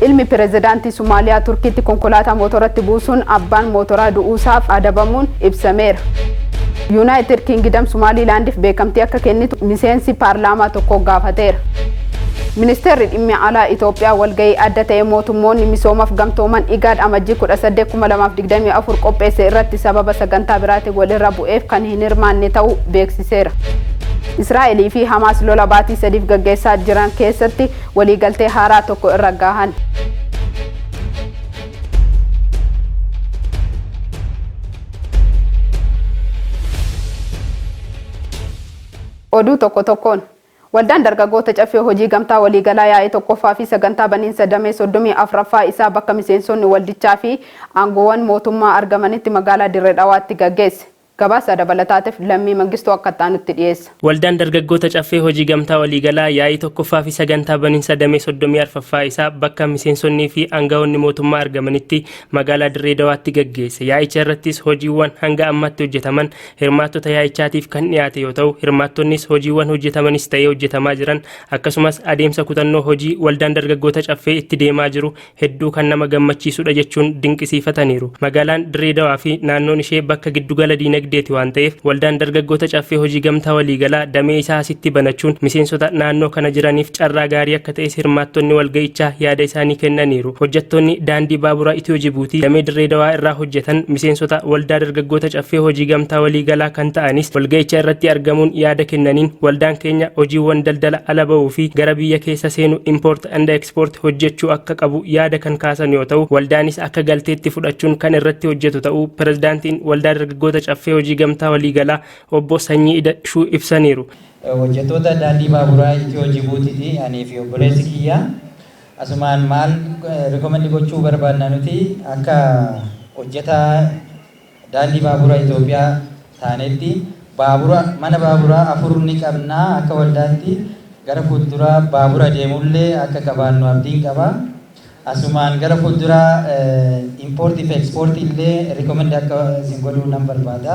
Ilmi Pirezidaantii Somaaliyaa Turkiitti konkolaataa mootoratti buusuun abbaan mootoraa du'uusaaf adabamuun ibsameera. Yuunaayitid Kiingidam Somaaliilaandiif beekamtii akka kennitu miseensi paarlaamaa tokko gaafateera. Ministeerri Dhimmi Alaa Itoophiyaa walga'ii adda ta'e mootummoonni misoomaf gamtooman IGAD Amajjii 18, 2024 qopheesse irratti sababa sagantaa biraatiin walirra bu'eef kan hin hirmaanne ta'uu beeksiseera. Israa'elii fi Hamaas lola baatii sadiif gaggeessaa jiran keessatti Waliigaltee haaraa tokko irra gaahan. Oduu tokko tokkoon. Waldaan dargaggoota caffee hojii gamtaa waliigalaa yaa'ii tokkoffaa fi sagantaa baniinsa damee 34ffaa isaa bakka miseensonni waldichaa fi aangoowwan mootummaa argamanitti magaalaa Dirre Dhawaatti gaggeesse. Gabaasa dabalataatiif Lammii Mangistuu akka itti aanutti dhiyeessa. Waldaan Dargaggoota Caffee Hojii Gamtaa Waliigalaa yaa'ii 1ffaa fi sagantaa baninsa damee 34ffaa isaa bakka miseensonnii fi angawoonni mootummaa argamanitti magaalaa Dirree Dawaatti gaggeesse. Yaa'icha irrattis hojiiwwan hanga ammaatti hojjetaman hirmaattota yaa'ichaatiif kan dhiyaate yoo ta'u, hirmaattonnis hojiiwwan hojjetamanis ta'ee hojjetamaa jiran akkasumas adeemsa kutannoo hojii Waldaan Dargaggoota Caffee itti deemaa jiru hedduu kan nama gammachiisudha jechuun dinqisiifataniiru. Magaalaan Dirree Dawaa fi naannoon ishee bakka giddugala diinagdeeti waan ta'eef waldaan dargaggoota Caffee Hojii Gamtaa Waliigalaa damee isaa asitti banachuun miseensota naannoo kana jiraniif carraa gaarii akka ta'es hirmaattonni walga'ichaa yaada isaanii kennaniiru. Hojjattoonni daandii baabura Itiyoo Jibuutii damee Dirree Dawaa irraa hojjatan miseensota waldaa dargaggoota Caffee Hojii Gamtaa Waliigalaa kan ta'anis walga'icha irratti argamuun yaada kennaniin waldaan keenya hojiiwwan daldala ala ba'uu fi gara biyya keessa seenu import and export hojjechuu akka qabu yaada kan kaasan yoo ta'u waldaanis akka galteetti fudhachuun kan irratti hojjetu ta'uu pirezidaantiin waldaa dargaggoota caffee hojii gamtaa waliigalaa obbo Sanyii Ida'shuu ibsaniiru. Hojjettoota daandii baaburaa Itiyoo Jibuutiiti anii fi obboleessi kiyya asumaan maal recommend gochuu barbaadna nuti akka hojjetaa Daandii Baabura Itoophiyaa taanetti baabura mana baaburaa afur ni qabna, akka waldaatti gara fuulduraa baabura deemullee akka qabaannu abdiin qaba. Asumaan gara fuulduraa import fi export illee recommend akka isin godhu nan barbaada.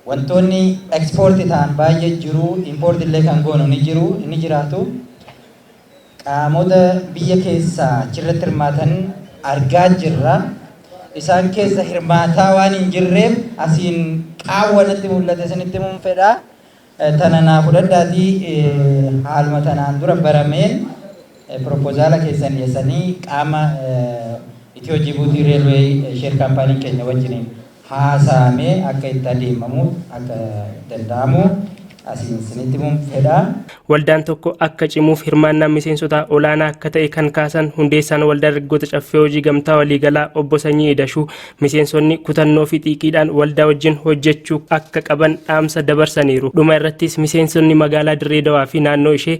Wantoonni export ta'an baay'ee jiru, import illee kan goonu ni jiru, ni jiraatu. Qaamota biyya keessaa achirratti hirmaatan argaa jirra. Isaan keessa hirmaataa waan hin jirreef asiin qaawwa natti mul'ate isinitti himuun fedha. Tana naa fudhadhaatii haaluma tanaan dura barameen piropozaala keessan dhiyessanii qaama Itiyoo Jibuutii Reelweey Sheer Kaampaaniin keenya wajjiniin. haasa'amee akka itti adeemamu akka danda'amu asiin isinitti himuun fedha. Waldaan tokko akka cimuuf hirmaannaan miseensotaa olaanaa akka ta'e kan kaasan hundeessaan Waldaa Dargaggoota Caffee Hojii Gamtaa Waliigalaa Obbo Sanyii Idashuu, miseensonni kutannoo fi xiiqiidhaan waldaa wajjin hojjechuu akka qaban dhaamsa dabarsaniiru. Dhuma irrattis miseensonni magaalaa Dirree Dawaa fi naannoo ishee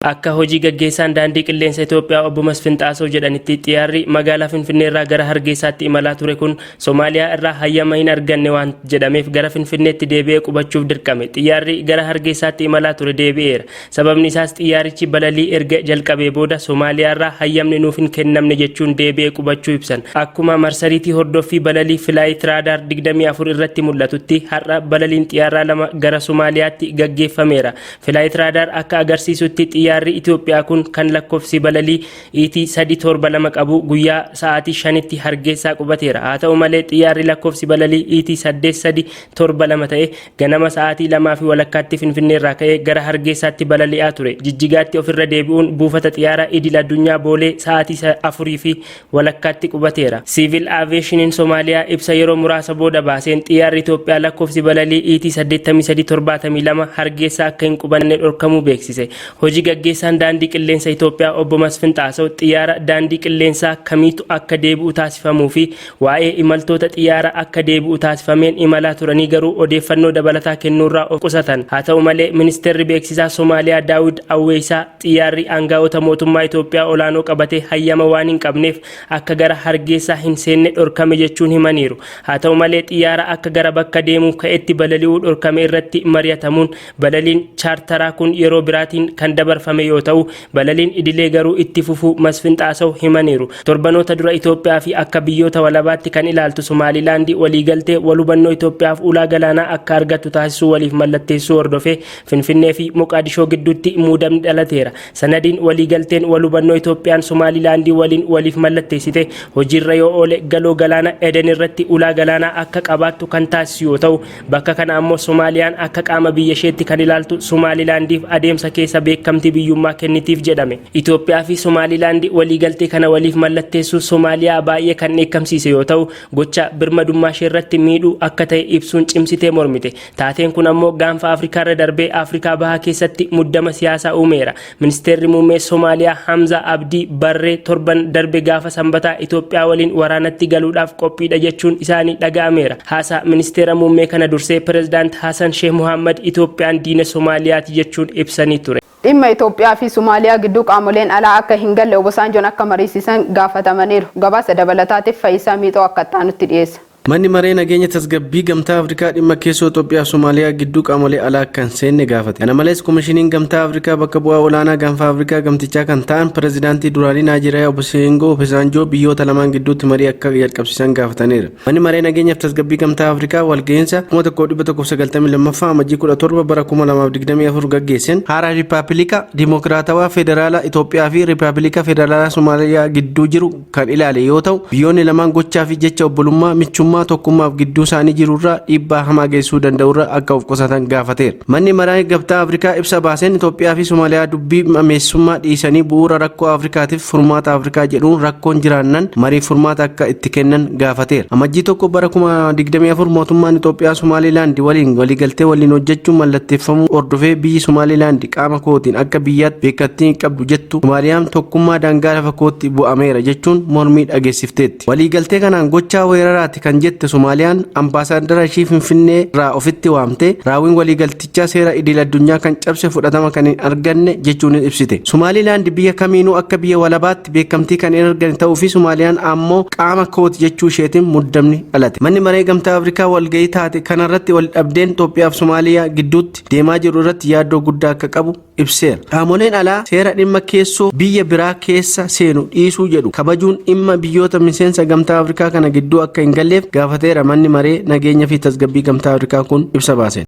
Akka hojii gaggeessaan Daandii Qilleensa Itoophiyaa Obbo Masfin Xaasoo jedhanitti xiyaarri magaalaa Finfinneerraa gara Hargeessaatti imalaa ture kun Somaaliyaa irraa hayyama hin arganne waan jedhameef gara Finfinneetti deebi'ee qubachuuf dirqame. Xiyyaarri gara Hargeessaatti imalaa ture deebi'eera. Sababni isaas xiyyaarichi balalii erga jalqabee booda Somaaliyaarraa hayyamni nuuf hin kennamne jechuun deebi'ee qubachuu ibsan. Akkuma marsariitii hordoffii balalii Flight Radar 24 irratti mul'atutti har'a balaliin xiyaarraa lama gara Somaaliyaatti gaggeeffameera. Flight Radar akka agarsiisutti xiyyaarri Itoophiyaa kun kan lakkofsi balalii ET 372 qabu guyyaa sa'aatii 5tti Hargeessaa qubateera. Haa ta'u malee xiyyaarri lakkofsi balalii ET 8372 ta'e ganama sa'aatii 2 fi walakkaatti Finfinneerraa ka'ee gara Hargeessaatti balali'aa ture. Jijjigaatti ofirra deebi'uun buufata xiyyaara idil addunyaa Boolee sa'aatii 4 fi walakkaatti qubateera. Siivil Aaviyeeshiniin Somaaliyaa ibsa yeroo muraasa booda baaseen xiyyaarri Itoophiyaa lakkoofsi balalii ET 83 72 Hargeessaa akka hin qubanne dhorkamuu beeksise. Hoji gaggeessaan Daandii Qilleensa Itoophiyaa Obbo Masfin Xaasaw xiyyaara daandii qilleensaa kamiitu akka deebi'u taasifamuu fi waa'ee imaltoota xiyyaara akka deebi'u taasifameen imalaa turanii garuu odeeffannoo dabalataa kennuurraa of qusatan. Haa ta'u malee Ministeerri Beeksisaa Somaaliyaa Daawid Awweeysaa Xiyyaarri aanga'oota mootummaa Itoophiyaa olaanoo qabate hayyama waan hin qabneef akka gara Hargeessaa hin seenne dhorkame jechuun himaniiru. Haa ta'u malee xiyyaara akka gara bakka deemuuf ka'etti balali'uu dhorkame irratti mari'atamuun balaliin chaartaraa kun yeroo biraatiin kan dabarfame yoo ta'u, balaliin idilee garuu itti fufuu Masfin Xaasaw himaniiru. Torbanoota dura Itoophiyaa fi akka biyyoota walabaatti kan ilaaltu Somaalilaandi waliigaltee wal hubannoo Itoophiyaaf ulaa galaanaa akka argattu taasisuu waliif mallatteessuu hordofee Finfinnee fi Moqaadishoo gidduutti muudamni dhalateera. Sanadiin waliigalteen walhubannoo Itoophiyaan Somaalilaandii waliin waliif mallatteessite hojiirra yoo oole Galoo Galaana Eden irratti ulaa galaanaa akka qabaattu kan taasisu yoo ta'u, bakka kana ammoo Somaaliyaan akka qaama biyyasheetti kan ilaaltu Somaalilaandiif adeemsa keessa beekamtii biyyummaa kennitiif jedhame. Itoophiyaa fi Somaalilaandi waliigaltee kana waliif mallatteessuun Somaaliyaa baay'ee kan dheekkamsiise yoo ta'u, gocha birmadummaasheerratti miidhu akka ta'e ibsuun cimsitee mormite. Taateen kun ammoo gaanfa Afrikaarra darbee Afrikaa Bahaa keessatti muddama siyaasaa uumeera. Ministeerri Muummee Somaaliyaa Hamzaa Abdii Barree torban darbe gaafa Sambataa Itoophiyaa waliin waraanatti galuudhaaf qophiidha jechuun isaanii dhaga'ameera. Haasaa Ministeera Muummee kana dursee Pirezidaant Hasan Sheeh Mohaammad Itoophiyaan diina Somaaliyaati jechuun ibsanii ture. Dhimma Itoophiyaa fi Somaaliyaa gidduu qaamoleen alaa akka hin galle Obosaanjoon akka mariisisan gaafatamaniiru. Gabaasa dabalataatif Fayisaa Miixoo akka ittaanutti dhiyeessa. Manni Maree Nageenya Tasgabbii Gamtaa Afrikaa dhimma keessoo Xoophiyaaf Somaaliyaa gidduu qaamolee alaa akka hin seenne gaafate. Kana malees Komishiniin Gamtaa Afrikaa bakka bu'aa olaanaa gaanfa Afrikaa gamtichaa kan ta'an Pirezidaantii duraanii Naajeeriyaa Oboseengoo Opesaanjoo biyyoota lamaan gidduutti marii akka jalqabsiisan gaafataniiru. Manni Maree Nageenyaaf Tasgabbii Gamtaa Afrikaa walga'iinsa 1192ffaa Amajjii 17 bara 2024 gaggeesseen haaraa Riippaabilika Dimookiraatawaa Federaalaa Itoophiyaa fi Riippaabilika Federaalaa Somaaliyaa gidduu jiru kan ilaale yoo ta'u, biyyoonni lamaan gochaa fi jecha obbolummaa, michummaa, tokkummaaf gidduu isaanii jiru irraa dhiibbaa hamaa geessisuu danda'u irra akka of qusatan gaafateera. Manni Maraa Gabtaa Afrikaa ibsa baaseen Itoophiyaa fi Somaaliyaa dubbii mameessummaa dhiisanii bu'uura rakkoo Afrikaatiif furmaata Afrikaa jedhuun rakkoon jiraannan mariif furmaata akka itti kennan gaafateera. Amajjii 1 bara 2024 mootummaan Itoophiyaa Somaaliilaandi waliin waliigaltee waliin hojjechuu mallatteeffamuu hordofee biyyi Somaaliilaandi qaama kootiin akka biyyaatti beekkattii hin qabdu jettu Maariyaam tokkummaa daangaa lafa kootti bu'ameera jechuun mormii dhageessifteetti. Waliigaltee kanaan gochaa weeraraati kan jette Somaaliyaan ambaasaaddara ishii Finfinnee irraa ofitti waamtee raawwiin waliigaltichaa seera idil addunyaa kan cabse fudhatama kan hin arganne jechuunis ibsite. Somaalilaand biyya kamiinuu akka biyya walabaatti beekamtii kan hin argane ta'uu fi Somaaliyaan ammoo qaama kooti jechuu isheetiin muddamni dhalate. Manni maree gamtaa Afrikaa walga'ii taate kanarratti waldhabdeen Itoophiyaa fi Somaaliyaa gidduutti deemaa jiru irratti yaaddoo guddaa akka qabu ibseera. Qaamoleen alaa seera dhimma keessoo biyya biraa keessa seenu dhiisuu jedhu kabajuun dhimma biyyoota miseensa Gamtaa Afrikaa kana gidduu akka hin galleef gaafateera manni maree nageenya fi tasgabbii Gamtaa Afrikaa kun ibsa baaseen.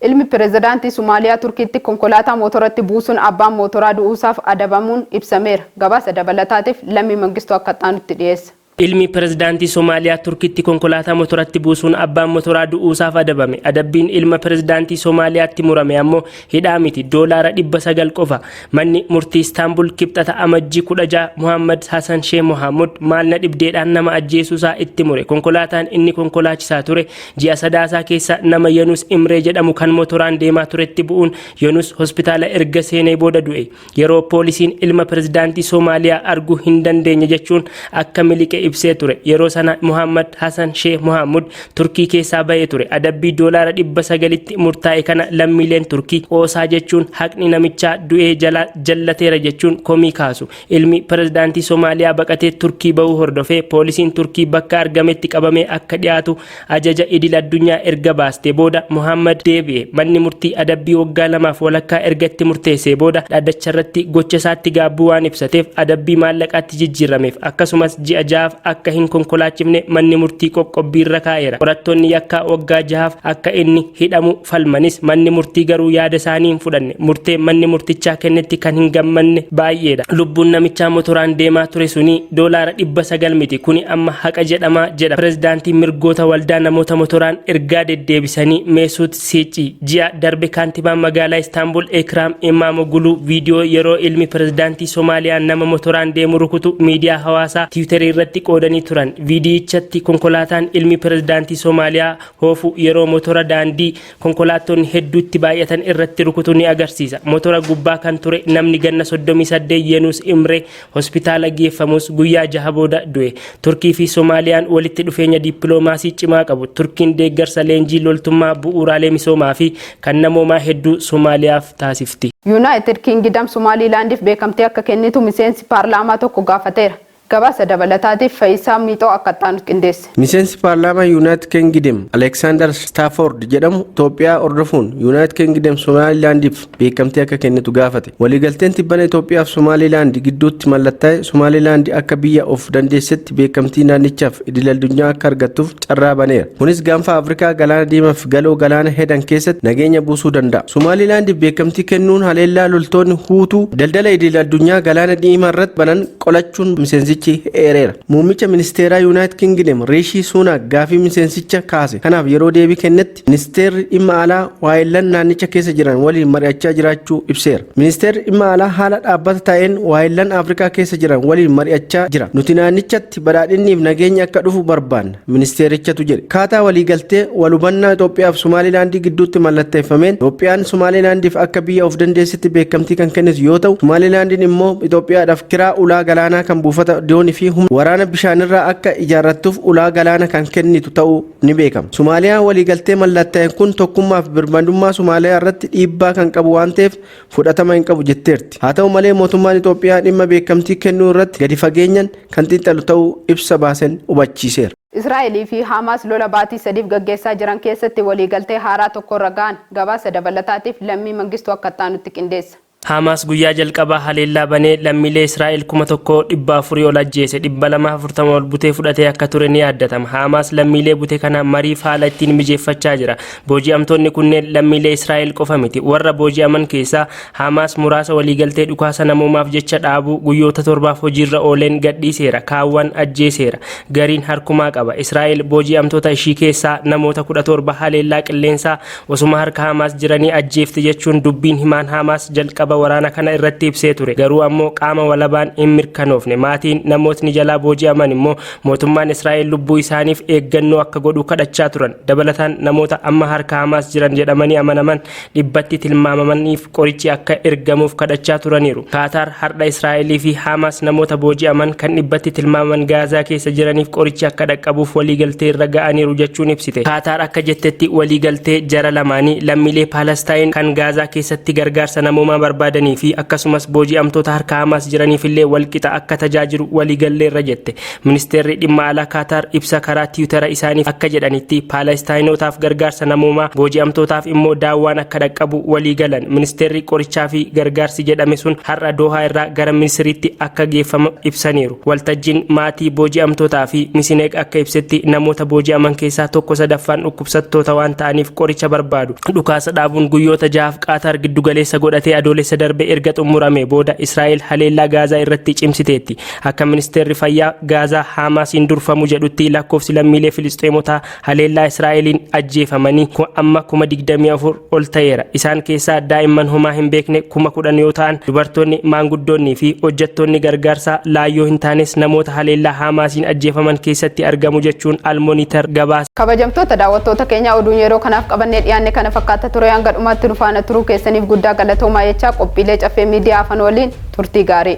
Ilmi pirezidaantii Somaaliyaa Turkiitti konkolaataa mootoratti buusuun abbaan mootoraa du'uusaaf adabamuun ibsameera. Gabaasa dabalataatiif Lammii Mangistuu akka itti aanutti dhiyeessa. Ilmi Pirezidaantii Somaaliyaa Turkiitti konkolaataa motoratti buusuun abbaan motoraa du'uusaaf adabame. Adabbiin ilma Pirezidaantii Somaaliyaatti murame ammoo hidhaa miti, doolaara 900 qofa. Manni murtii Istaanbul Kibxata Amajjii 16 Mohaammad Hasan Sheeh Mohaammud maal na dhibdeedhaan nama ajjeesuusaa itti mure. Konkolaataan inni konkolaachisaa ture ji'a Sadaasaa keessa nama Yanus Imree jedhamu kan motoraan deemaa turetti bu'uun Yanus hospitaala erga seenee booda du'e. Yeroo poolisiin ilma pirezidaantii Soomaaliyaa arguu hin dandeenye jechuun akka miliqe ibsee ture. Yeroo sana Mohaammad Hasan Sheeh Mohaammud Turkii keessaa bahee ture. Adabbii doolaara 900tti murtaa'e kana lammiileen Turkii qoosaa jechuun haqni namichaa du'ee jalaa jallateera jechuun komii kaasu. Ilmi pirezidaantii Soomaaliyaa baqatee Turkii bahuu hordofee poolisiin Turkii bakka argametti qabamee akka dhiyaatu Ajaja idil addunyaa erga baastee booda Mohaammad deebi'e. Manni murtii adabbii waggaa lamaaf walakkaa erga itti murteessee booda dhaddacharratti gocha isaatti gaabbuu waan ibsateef adabbii maallaqaatti jijjiirrameef. Akkasumas ji'a jahaaf akka hin konkolaachifne manni murtii qoqqobbii irra kaa'eera. Qorattoonni yakkaa waggaa jahaaf akka inni hidhamu falmanis manni murtii garuu yaada isaanii hin fudhanne. Murtee manni murtichaa kennetti kan hin gammanne baay'eedha. Lubbuun namichaa motoraan deemaa ture sunii doolaara 900 miti kuni amma haqa jedhama jedha pirezidaantiin mirgoota waldaa namoota motoraan ergaa deddeebisanii Meesuut Siici. Ji'a darbe kaantibaan magaalaa Istaanbul Ekraam Imaamogulu viidiyoo yeroo ilmi pirezidaantii Somaaliyaa nama motoraan deemu rukutu miidiyaa hawaasaa Tiwutarii irratti qoodanii turan. Viidiyichatti konkolaataan ilmi pirezidaantii Somaaliyaa hoofu yeroo motora daandii Konkolaattonni hedduu itti baay'atan irratti rukutu ni agarsiisa. Motora gubbaa kan ture namni ganna 38 Yenuus Imree hospitaala geeffamus guyyaa jaha booda du'e. Turkii fi Somaaliyaan walitti dhufeenya dippiloomaasii cimaa qabu. Turkiin deeggarsa leenjii loltummaa, bu'uuraalee misoomaa fi kan namoomaa hedduu Somaaliyaaf taasifti. Yuunaayitid Kingidam Somaaliilaandiif beekamtii akka kennitu miseensi paarlaamaa tokko gaafateera. Gabaasa dabalataatiif Fayisaa Miixoo akka itti aanutti qindeesse. Miseensi paarlaamaa Yuunaayitid Kingidem Aleeksaandar Staafoord jedhamu Itoophiyaa hordofuun Yuunaayitid Kingidem Somaaliilaandiif beekamtii akka kennitu gaafate. Waliigalteen tibbana Itoophiyaa fi Somaaliilaandi gidduutti mallattaa'e Somaaliilaandi akka biyya of dandeessetti beekamtii naannichaaf idil-addunyaa akka argattuuf carraa baneera. Kunis gaanfa Afrikaa Galaana Diimaa fi Galoo Galaana Hedan keessatti nageenya buusuu danda'a. Somaaliilaandiif beekamtii kennuun haleellaa loltoonni Huutuu daldala idil-addunyaa Galaana Diimaa irratti banan qolachuun miseensichi eereera. Muummicha ministeeraa Yuunaayitid Kingidem Riishii Suunaak gaafii miseensicha kaase kanaaf yeroo deebii kennetti ministeerri dhimma alaa waayillan naannicha keessa jiran waliin mari'achaa jiraachuu ibseera. Ministeerri dhimma alaa haala dhaabbata ta'een waayillan Afrikaa keessa jiran waliin mari'achaa jira. Nuti naannichatti badhaadhinniif nageenyi akka dhufu barbaanna. ministeerichatu jedhe. Akkaataa waliigaltee walhubannaa Itoophiyaa fi Somaalilaandii gidduutti mallattaeffameen Itoophiyaan Somaalilaandiif akka biyya of dandeessitti beekamtii kan kennitu yoo ta'u, Somaalilaandiin immoo Itoophiyaadhaaf kiraa ulaa galaanaa kan buufata doonii fi humna waraana bishaanirraa akka ijaarrattuuf ulaa galaana kan kennitu ta'uu ni beekama. Somaaliyaan waliigaltee mallattaa'e kun tokkummaa fi birmadummaa Somaaliyaa irratti dhiibbaa kan qabu waan ta'eef fudhatama hin qabu jetteerti. Haa ta'u malee mootummaan Itoophiyaa dhimma beekamtii kennuu irratti gadi fageenyan kan xiinxalu ta'uu ibsa baasen hubachiiseera. Israa'el fi Haamaas lola baatii sadiif gaggeessaa jiran keessatti waliigaltee haaraa tokkorra ga'an. Gabaasa dabalataatiif Lammii Mangistuu akka ittaanutti qindeessa. Haamaas guyyaa jalqabaa haleellaa banee lammiilee Israa'el 1,000, 400, ol ajjeese, 240 ol butee fudhatee akka ture ni yaadatama. Haamaas lammiilee bute kana mariif haala ittiin mijeeffachaa jira. Booji'amtoonni kunneen lammiilee Israa'el qofa miti. Warra booji'aman keessaa Haamaas muraasa waliigaltee dhukaasa namoomaaf jecha dhaabuu guyyoota torbaaf hojiirra ooleen gadhiiseera, kaawwan ajjeeseera. Gariin harkumaa qaba. Israa'el booji'amtoota ishii keessaa namoota 17 haleellaa qilleensaa osuma harka Haamaas jiranii ajjeefte jechuun dubbiin himaan Haamaas jalqaba waraana kana irratti ibsee ture. Garuu ammoo qaama walabaan hin mirkanoofne. Maatiin namootni jalaa booji'aman immoo Mootummaan Israa'el lubbuu isaaniif eeggannoo akka godhu kadhachaa turan. Dabalataan namoota amma harka Hamaas jiran jedhamanii amanaman dhibbatti tilmaamamaniif qorichi akka ergamuuf kadhachaa turaniiru. Kaataar hardha Israa'elii fi Hamaas namoota booji'aman kan dhibbatti tilmaamaman Gaazaa keessa jiraniif qorichi akka dhaqqabuuf waliigaltee irra ga'aniiru jechuun ibsite. Kaataar akka jettetti waliigaltee jara lamaanii lammiilee Paalastaayin kan Gaazaa keessatti gargaarsa namoomaa barbaadanii fi akkasumas booji'amtoota harka Hamaas jiraniif illee walqixa akka tajaajilu waliigalleerra jette. Ministeerri dhimma alaa Kaataar ibsa karaa tiwutara isaaniif akka jedhanitti Paalastaayinootaaf gargaarsa namoomaa, booji'amtootaaf immoo daawwaan akka dhaqqabu walii galan. Ministeerri qorichaa fi gargaarsi jedhame sun har'a Doohaa irraa gara Misiriitti akka geeffamu ibsaniiru. Waltajjiin maatii booji'amtootaa fi Misineeg akka ibsetti namoota booji'aman keessaa tokko sadaffaan dhukkubsattoota waan ta'aniif qoricha barbaadu. Dhukaasa dhaabuun guyyoota jahaaf Qaataar giddugaleessa godhatee Adoolessa darbe erga xummuramee booda Israa'el haleellaa Gaazaa irratti cimsiteetti. Akka ministeerri fayyaa Gaazaa Haamaasiin durfamu jedhutti lakkoofsi lammiilee Filisxeemotaa haleellaa Israa'eliin ajjeefamanii amma kuma 24 ol ta'eera. Isaan keessaa daa'imman homaa hin beekne kuma 10 yoo ta'an, dubartoonni, maanguddoonnii fi hojjettoonni gargaarsaa laayyoo hin taanes namoota haleellaa Haamaasiin ajjeefaman keessatti argamu jechuun Al-Monitor gabaase. Kabajamtoota daawwattoota keenyaa oduun yeroo kanaaf qabannee dhiyaanne kana fakkaata ture hanga dhumaatti nu faana turuu keessaniif guddaa galatoomaa jechaa qophiilee Caffee Miidiyaa hafan waliin turtii gaarii.